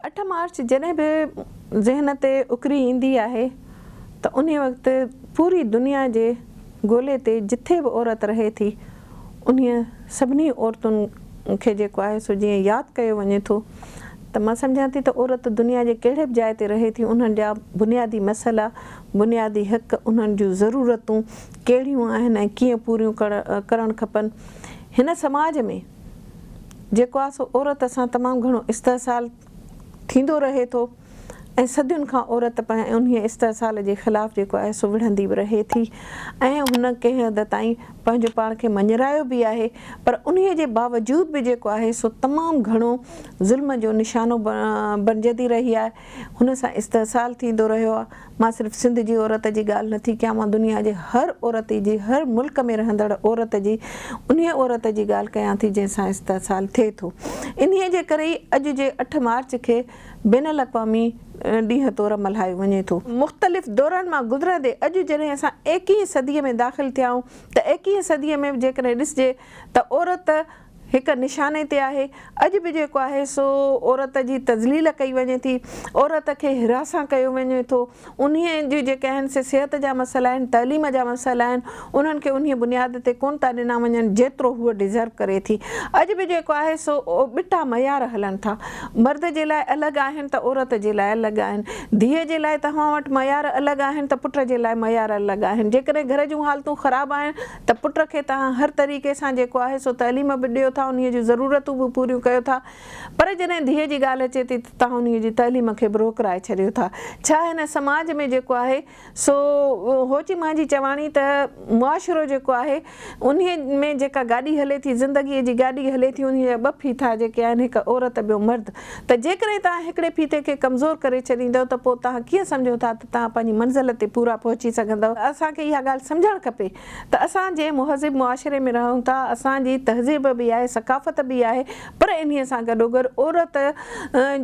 اٺ مارچ جڏهن به ذهن تي اڪري ايندي آهي ته انهي وقت پوري دنيا جي گولي تي جٿي به عورت رهي ٿي انهي سڀني عورتن کي جيڪو آهي سو جيئن ياد ڪيو وڃي ٿو ته مان سمجهان ٿي ته عورت دنيا جي ڪهڙي به جاء تي رهي ٿي انهن جا بنيادي مسئلا بنيادي حق انهن جون ضرورتون ڪهڙيون آهن ۽ ڪيئن پوريون ڪرڻ کپن هن سماج ۾ جيڪو آ سو عورت سان تمام گهڻو استحصال ٿيندو رهي ٿو ۽ صدين کان عورت پنهن انهيء استحصال جي خلاف جيڪو آهي سو وڙهندي به رهي ٿي ۽ هن ڪنهن حد تائين پنهنجو پاڻ کي مڃرايو به آهي پر انهيء جي باوجود به جيڪو آهي سو تمام گهڻو ظلم جو نشانو بڻجندي رهي آهي هن سان استحصال ٿيندو رهيو آ مان صرف سنڌ جي عورت جي ڳالهه نه ٿي ڪيان مان دنيا جي هر عورتي جي هر ملڪ ۾ رهندڙ عورت جي انهي عورت جي ڳالهه ڪيان ٿي جنهن سان استحصال ٿئي ٿو انهي جي ڪري ئي اڄ جي اٺ مارچ کي بين الاقوامي ڏينهن طور ملهايو وڃي ٿو. مختلف دورن مان گذرندي اڄ جڏهن اسان ايڪيهين صدي ۾ داخل ٿيا آهيون ته ايڪيهين صدي ۾ به جيڪڏهن ڏسجي ته عورت هڪ نشاني تي آهي. اڄ به جيڪو آهي سو عورت جي تذليل ڪئي وڃي ٿي، عورت کي حراسان ڪيو وڃي ٿو، انهي جي جيڪي آهن سي صحت جا مسئلا آهن، تعليم جا مسئلا آهن، انهن کي انهي بنياد تي ڪونه ٿا ڏنا وڃن جيترو هوء ڊزرو ڪري ٿي. اڄ به جيڪو آهي سو ٻٽا معيار هلن ٿا. مرد جي لاء الڳ آهن ته عورت جي لاء الڳ آهن. ڌيء جي لاء توهان وٽ معيار الڳ آهن ته پٽ جي لاء معيار الڳ آهن. جيڪڏهن گهر جون حالتون خراب آهن ته پٽ کي توهان هر طريقي سان جيڪو آهي سو تعليم به ڏيو ٿا انهيء جون ضرورتون به پوريون ڪيو ٿا پر جڏهن ڌيء جي ڳالهه اچي ٿي ته توهان انهيء جي تعليم کي به روڪرائي ڇڏيو ٿا ڇا هن سماج ۾ جيڪو آهي سو هوچي مهانجي چواڻي ته معاشرو جيڪو آهي انهيء ۾ جيڪا گاڏي هلي ٿي زندگيء جي گاڏي هلي ٿي انهيء جا ٻه ڦيٿا جيڪي آهن هڪ عورت ٻيو مرد ته جيڪڏهن توهان هڪڙي ڦيٿي کي ڪمزور ڪري ڇڏيندؤ ته پوء توهان ڪيئن سمجهو ٿا ته توهان پنهنجي منزل تي پورا پهچي سگهندؤ؟ اسان کي اها ڳالهه سمجهڻ کپي ته اسان جنهن مهذب معاشري ۾ رهون ٿا، اسان جي تهذيب به آهي، ثقافت به آهي، پر انهيء سان گڏوگڏ عورت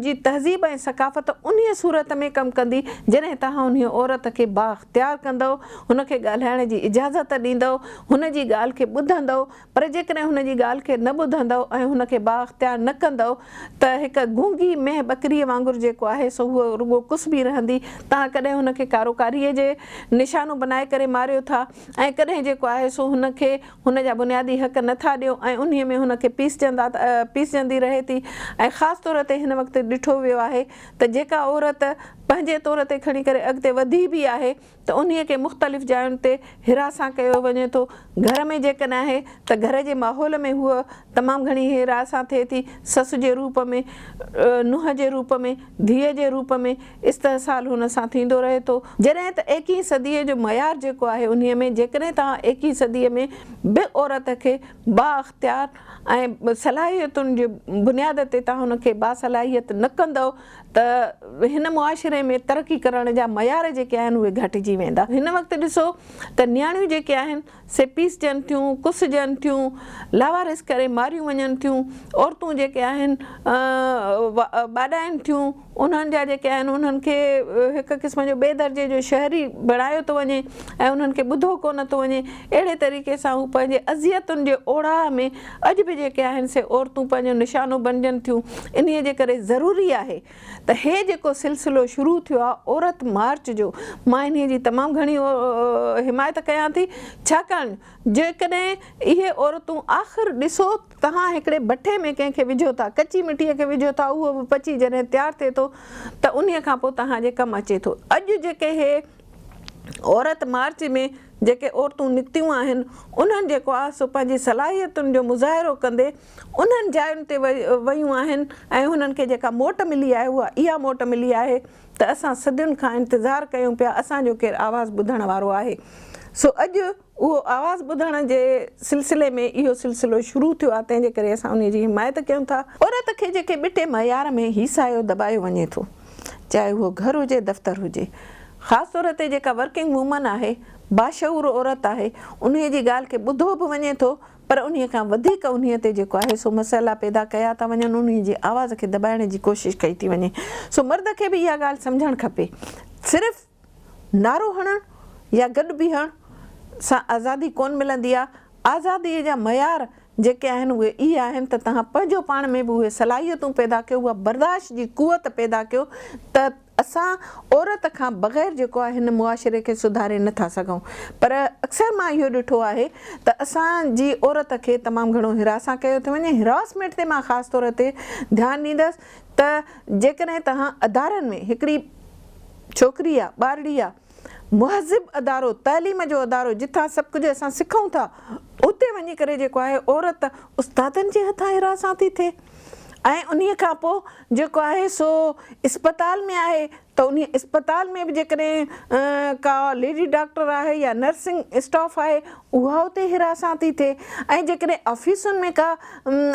جي تهذيب ۽ ثقافت انهيء صورت ۾ ڪم ڪندي جڏهن توهان انهيء عورت کي بااختيار ڪندؤ، هن کي ڳالهائڻ جي اجازت ڏيندؤ، هن جي ڳالهه کي ٻڌندؤ، پر جيڪڏهن هن جي ڳالهه کي نه ٻڌندؤ ۽ هن کي بااختيار نه ڪندؤ ته هڪ گونگي مينهن ٻڪريء وانگر جيڪو آهي سو هوء رڳو ڪسبي رهندي. توهان ڪڏهن هن کي ڪاروڪاريء جي نشانو بنائي ڪري ماريو ٿا ۽ ڪڏهن جيڪو آهي سو هن کي هن جا بنيادي حق نه ٿا ڏيو ۽ انهيء ۾ هن کي پيسجندا پيسجندي رهي ٿي ۽ خاص طور تي هن وقت ڏٺو ويو آهي ته جيڪا عورت پنهنجي طور تي کڻي ڪري اڳتي وڌي به آهي ته انهيء کي مختلف جاين تي هيرا سان ڪيو وڃي ٿو. گهر ۾ جيڪڏهن آهي ته گهر جي ماحول ۾ هوء تمام گهڻي هيرا سان ٿئي ٿي، سس جي روپ ۾، نونهن جي روپ ۾، ڌيء جي روپ ۾، استحصال هن سان ٿيندو رهي ٿو. جڏهن ته ايڪيهين صديء جو معيار جيڪو آهي انهيء ۾ جيڪڏهن توهان ايڪيهين صديء ۾ به عورت کي بااختيار ۽ صلاحيتن جي بنياد تي توهان هن کي باصلاحيت نه ڪندؤ، ته هن معاشري ۾ ترقي ڪرڻ جا معيار جيڪي آهن اهي گهٽجي ويندا. هن وقت ڏسو ته نياڻيون جيڪي آهن سي پيسجن ٿيون، ڪسجن ٿيون، لاوارث ڪري ماريون وڃن ٿيون، عورتون جيڪي آهن ٻاڏائين ٿيون، انهن جا جيڪي آهن انهن کي هڪ قسم جو ٻئي درجي جو شهري بڻايو ٿو وڃي ۽ انهن کي ٻڌو ڪونه ٿو وڃي، اهڙي طريقي سان هو پنهنجي اذيتن جي اوڙاهه ۾. اڄ به جيڪي آهن سي عورتون پنهنجو نشانو بڻجن ٿيون انهي جي ڪري ضروري آهي ته هي جيڪو سلسلو شروع ٿيو آهي عورت مارچ جو مان انهي جي تمام گهڻي حمايت ڪيان ٿي ڇاڪاڻ جيڪڏهن اهي عورتون آخر ڏسو توهان هڪڙي بٺي ۾ ڪنهن کي وجهو ٿا ڪچي مٽي کي وجهو ٿا اهو به پچي جڏهن تيار ٿئي ٿو ته انهي کان پوء توهان جي ڪم اچي ٿو اڄ جيڪي هي عورت مارچ ۾ جيڪي عورتون نڪتيون آهن، انهن جيڪو آهي سو پنهنجي صلاحيتن جو مظاهرو ڪندي انهن جاين تي ويون آهن ۽ هنن کي جيڪا موٽ ملي آهي اها اها موٽ ملي آهي ته اسان صدين کان انتظار ڪيون پيا اسان جو ڪير آواز ٻڌڻ وارو آهي سو اڄ اهو آواز ٻڌڻ جي سلسلي ۾ اهو سلسلو شروع ٿيو آهي تنهن جي ڪري اسان انهي جي حمايت ڪيون ٿا. عورت کي جيڪي ٻٽي معيار ۾ هيسايو دٻايو وڃي ٿو. چاهي اهو گهر هجي دفتر هجي خاص طور تي جيڪا ورڪنگ وومن آهي باشعور عورت آهي انهي جي ڳالهه کي ٻڌو به وڃي ٿو پر انهي کان وڌيڪ انهي تي جيڪو آهي سو مسئلا پيدا ڪيا ٿا وڃن انهي جي آواز کي دٻائڻ جي ڪوشش ڪئي ٿي وڃي سو مرد کي به اها ڳالهه سمجهڻ کپي صرف نعرو هڻڻ يا گڏ بيهڻ سان آزادي ڪونه ملندي آهي، آزاديء جا معيار جيڪي آهن اهي ئي آهن ته توهان پنهنجو پاڻ ۾ به اهي صلاحيتون پيدا ڪيو، اها برداشت جي قوت پيدا ڪيو ته اسان عورت کان بغير جيڪو آهي هن معاشري کي سڌاري نه ٿا سگهون پر اڪثر مان اهو ڏٺو آهي ته اسان جي عورت کي تمام گهڻو هراسان ڪيو ٿو وڃي، Harassment تي مان خاص طور تي ڌيان ڏيندس ته جيڪڏهن توهان ادارن ۾ هڪڙي. ڇوڪري آ، ٻارڙي آ، مهذب ادارو، تعليم جو ادارو جتان سڀ ڪجهه اسان سکون ٿا، اتي وڃي ڪري جيڪو آهي عورت استادن جي هٿان هراسان ٿي ٿئي ۽ انهي کان پوء جيڪو آهي سو اسپتال ۾ آهي ته انهي اسپتال ۾ به جيڪڏهن ڪا ليڊي ڊاڪٽر آهي يا نرسنگ اسٽاف آهي اها اتي هراسان ٿي ٿئي ۽ جيڪڏهن آفيسن ۾ ڪا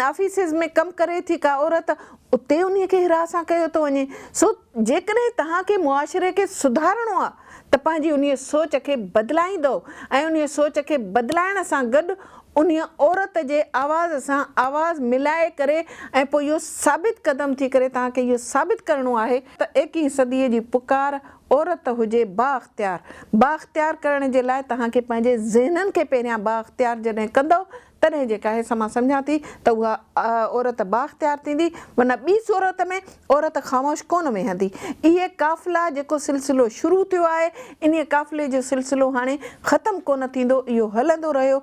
آفيسز ۾ ڪم ڪري ٿي ڪا عورت اتي انهي کي هراسان ڪيو ٿو وڃي سو جيڪڏهن توهان کي معاشري کي سڌارڻو آهي ته پنهنجي انهيء سوچ کي بدلائيندؤ ۽ انهيء سوچ کي بدلائڻ سان گڏ انهيء عورت جي آواز سان آواز ملائي ڪري ۽ پوء اهو ثابت قدم ٿي ڪري توهان کي اهو ثابت ڪرڻو آهي ته ايڪيهين صديء جي پڪار عورت هجي بااختيار بااختيار ڪرڻ جي لاء توهان کي پنهنجي ذهنن کي پهريان بااختيار جڏهن ڪندؤ تڏهن جيڪا حيث مان سمجهان ٿي ته اها عورت بااختيار ٿيندي ورنه ٻي صورت ۾ عورت خاموش ڪونه ويهندي. اهي قافلا جيڪو سلسلو شروع ٿيو آهي انهي قافلي جو سلسلو هاڻي ختم ڪونه ٿيندو اهو هلندو رهيو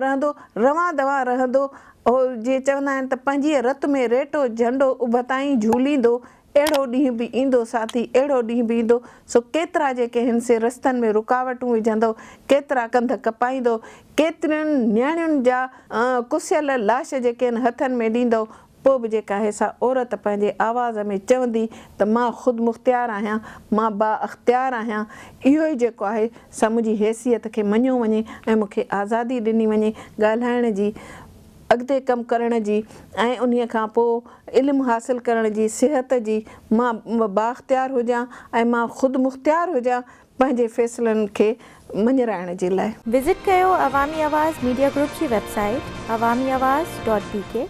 رهندو روان دوان رهندو اهو جيئن چوندا آهن ته پنهنجيء رت ۾ ريٽو جهنڊو اڀتائين جهوليندو اهڙو ڏينهن به ايندو ساٿي، اهڙو ڏينهن به ايندو، سو ڪيترا جيڪي هن سين رستن ۾ رڪاوٽون وجهندؤ، ڪيترا ڪنڌ ڪپائيندؤ، ڪيترين نياڻين جا ڪسيل لاش جيڪي هن هٿن ۾ ڏيندؤ، پوء به جيڪا هي سا عورت پنهنجي آواز ۾ چوندي ته مان خودمختيار آهيان، مان بااختيار آهيان، اهو ئي جيڪو آهي سا منهنجي حيثيت کي مڃيو وڃي ۽ مون کي آزادي ڏني وڃي ڳالهائڻ جي، اڳتي ڪم ڪرڻ جي ۽ انهي کان پوء علم حاصل ڪرڻ جي صحت جي مان بااختيار هجان ۽ مان خود مختيار هجان پنهنجي فيصلن کي مڃرائڻ جي لاء. وزٽ ڪيو عوامي آواز ميڊيا گروپ جي website Awami Awaz dot بي ڪي.